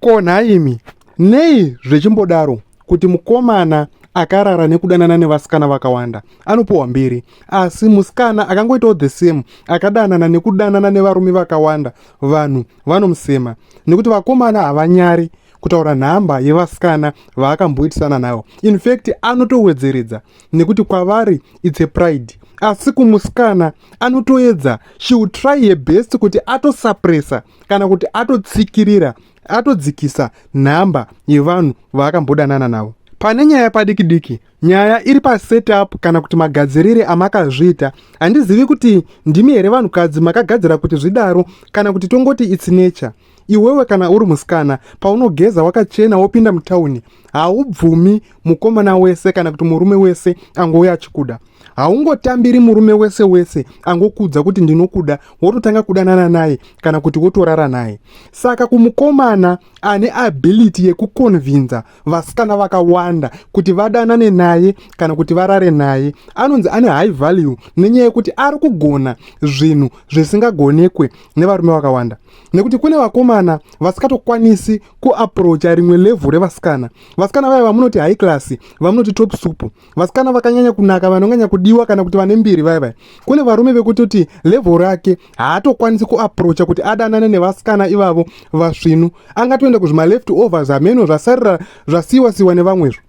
Ko nhaimi, nei zvechimbodaro kuti mukomana akarara nekudanana nevasikana vakawanda anopiwa mbiri asi musikana akangoitawo the same akadanana nekudanana nevarume vakawanda vanhu vanomusema nekuti vakomana havanyari kutaura nhamba yevasikana vaakamboitisana nayo infact anotowedzeredza nekuti kwavari its a pride asi kumusikana anotoedza she will try her best kuti atosapresa kana kuti atotsikirira atodzikisa nhamba yevanhu vaakambodanana navo pane nyaya padiki diki nyaya iri pasetup kana kuti magadzirire amakazviita handizivi kuti ndimi here vanhukadzi makagadzira kuti zvidaro kana kuti tongoti its nature iwewe kana uri musikana paunogeza wakachena wopinda mutauni haubvumi mukomana wese kana kuti murume wese angouya achikuda haungotambiri murume wese wese angokuudza kuti ndinokuda wototanga kudanana naye kana kuti wotorara naye saka kumukomana ane ability yekukonvinza vasikana vakawanda kuti vadanane naye kana kuti varare naye anonzi ane high value nenyaya yekuti ari kugona zvinhu zvisingagonekwe nevarume vakawanda nekuti kune vakomana vasikatokwanisi kuaprocha rimwe levhu revasikana vasikana vaya vamunoti high class vamunoti top supu vasikana vakanyanya kunaka vanonyanya kudiwa kana kuti vane mbiri vaya vaya kune varume vekutoti level rake haatokwanisi kuaprocha kuti adanane nevasikana ivavo vasvinu angatoenda kuzvimaleft overs hameno zvasarira zvasiyiwa siyiwa nevamwezvo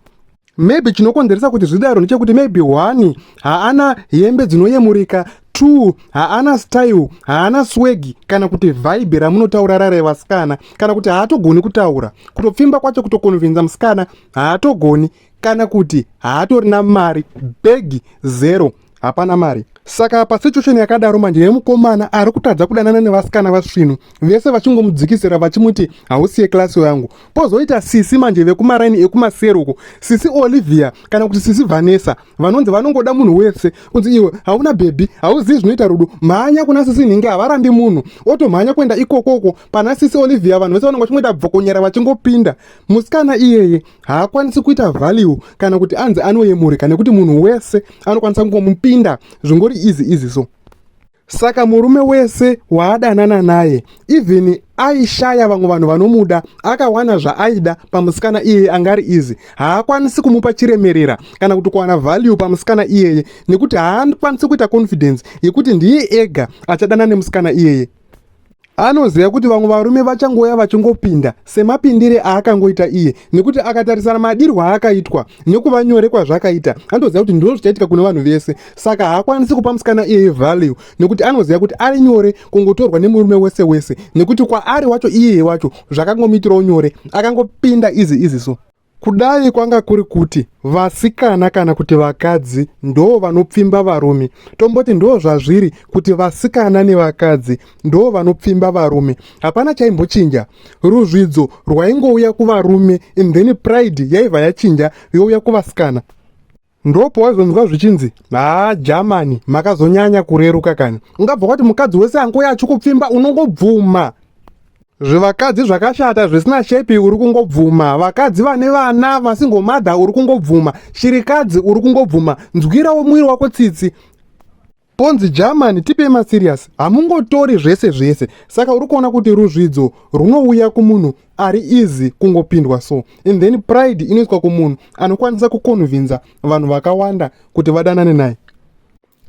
maybe chinokonzeresa kuti zvidaro ndechekuti maybe one haana hembe dzinoyemurika two haana style haana swegi kana kuti vhaibi ramunotaura rare vasikana kana kuti haatogoni kutaura kutopfimba kwacho kutokonvinza musikana haatogoni kana kuti haatorina mari bhegi zero hapana mari saka pasituation yakadaro manje yemukomana ari kutadza kudanana nevasikana vasvinu vese vachingomudzikisira vachimuti hausiye klasi yangu pozoita sisi manje vekumaraini ekumaseri uko sisi olivia kana kuti sisi vanessa vanonzi vanongoda munhu wese kunzi iwe hauna bhebhi hauzivi zvinoita rudo mhanya kuna sisi nhingi havarambi munhu otomhanya kuenda ikokoko pana sisi olivia vanhu vese vanonga vachingoita bvokonyera vachingopinda musikana iyeye haakwanisi kuita value kana kuti anzi anoyemurika nekuti munhu wese anokwanisa kungomupinda zvingori izi izi so saka murume wese waadanana naye even aishaya vamwe vanhu vanomuda akawana zvaaida pamusikana iyeye anga ari izi haakwanisi kumupa chiremerera kana kuti kuwana value pamusikana iyeye nekuti haakwanisi kuita confidence yekuti ndiye ega achadana nemusikana iyeye anoziva kuti vamwe varume vachangouya vachingopinda semapindire aakangoita iye nekuti akatarisana madirwo aakaitwa nekuva nyore kwazvakaita anotoziva kuti ndizvo zvichaitika kune vanhu vese saka haakwanisi kupa musikana iyeye value nekuti anoziva kuti ari nyore kungotorwa nemurume wese wese nekuti kwaari wacho iyeye wacho zvakangomuitirawo nyore akangopinda izi izi so Kudai kwanga kuri kuti vasikana kana kuti vakadzi ndoo vanopfimba varume, tomboti ndoo zvazviri kuti vasikana nevakadzi ndoo vanopfimba varume, hapana chaimbochinja. Ruzvidzo rwaingouya kuvarume and then pride yaibva yachinja youya kuvasikana. ndopo waizonzwa zvichinzi haa jamani makazonyanya kureruka kani ungabva kwati mukadzi wese angoya achikupfimba unongobvuma zvivakadzi zvakashata zvisina shepi uri kungobvuma vakadzi vane vana vasingomadha uri kungobvuma shirikadzi uri kungobvuma nzwirawo mwiri wako tsitsi Ponzi German tipe ma serious hamungotori zvese zvese saka uri kuona kuti ruzvidzo runouya kumunhu ari easy kungopindwa so and then pride inoiswa kumunhu anokwanisa kukonvinza vanhu vakawanda kuti vadanane naye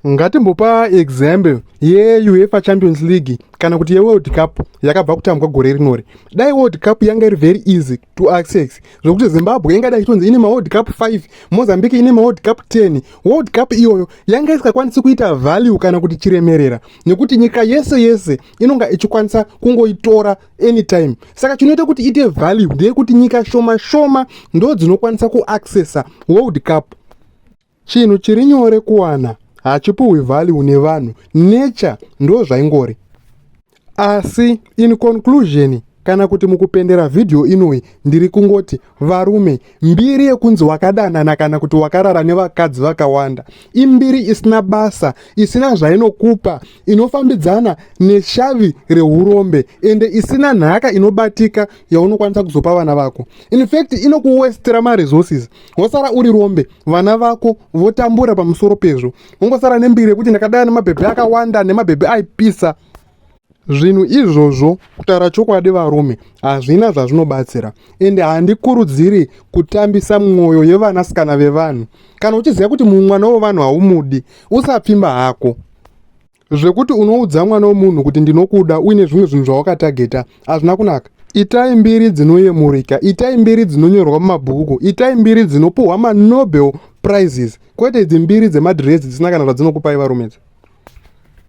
ngatimbopa example yeuefa champions league kana kuti yeworld cup yakabva kutambwa gore rinori dai world cup yanga iri very easy to access zvokuti zimbabwe ingadai ichitonzi ine maworld cup 5 mozambique ine maworld cup 10 world cup iyoyo yanga isingakwanisi kuita value kana kuti chiremerera nekuti nyika yese yese inonga ichikwanisa kungoitora anytime saka chinoita kuti ite value ndeyekuti nyika shoma shoma ndo dzinokwanisa kuaccessa world cup Chinhu chiri nyore kuwana hachipuhwi value nevanhu nature ndo zvaingori asi in conclusion kana kuti mukupendera vhidhiyo inoyi ndiri kungoti varume mbiri yekunzi wakadanana kana kuti wakarara nevakadzi vakawanda imbiri isina basa isina zvainokupa inofambidzana neshavi reurombe ende isina nhaka inobatika yaunokwanisa kuzopa vana vako in fact inokuwestera maresources wosara uri rombe vana vako votambura pamusoro pezvo ungosara nembiri yekuti ndakadaya nemabhebhe akawanda nemabhebhe aipisa zvinhu izvozvo kutaura chokwadi varume hazvina zvazvinobatsira ende handikurudziri kutambisa mwoyo yevanasikana vevanhu kana uchiziva kuti mumwana wevanhu haumudi usapfimba hako zvekuti unoudza mwana wemunhu kuti ndinokuda uine zvimwe zvinhu zvawakatageta hazvina kunaka itai mbiri dzinoyemurika itai mbiri dzinonyorwa mumabhuku itai mbiri dzinopuhwa manobel prizes kwete idzi mbiri dzemadhirezi dzisina kana zvadzinokupai varume dzi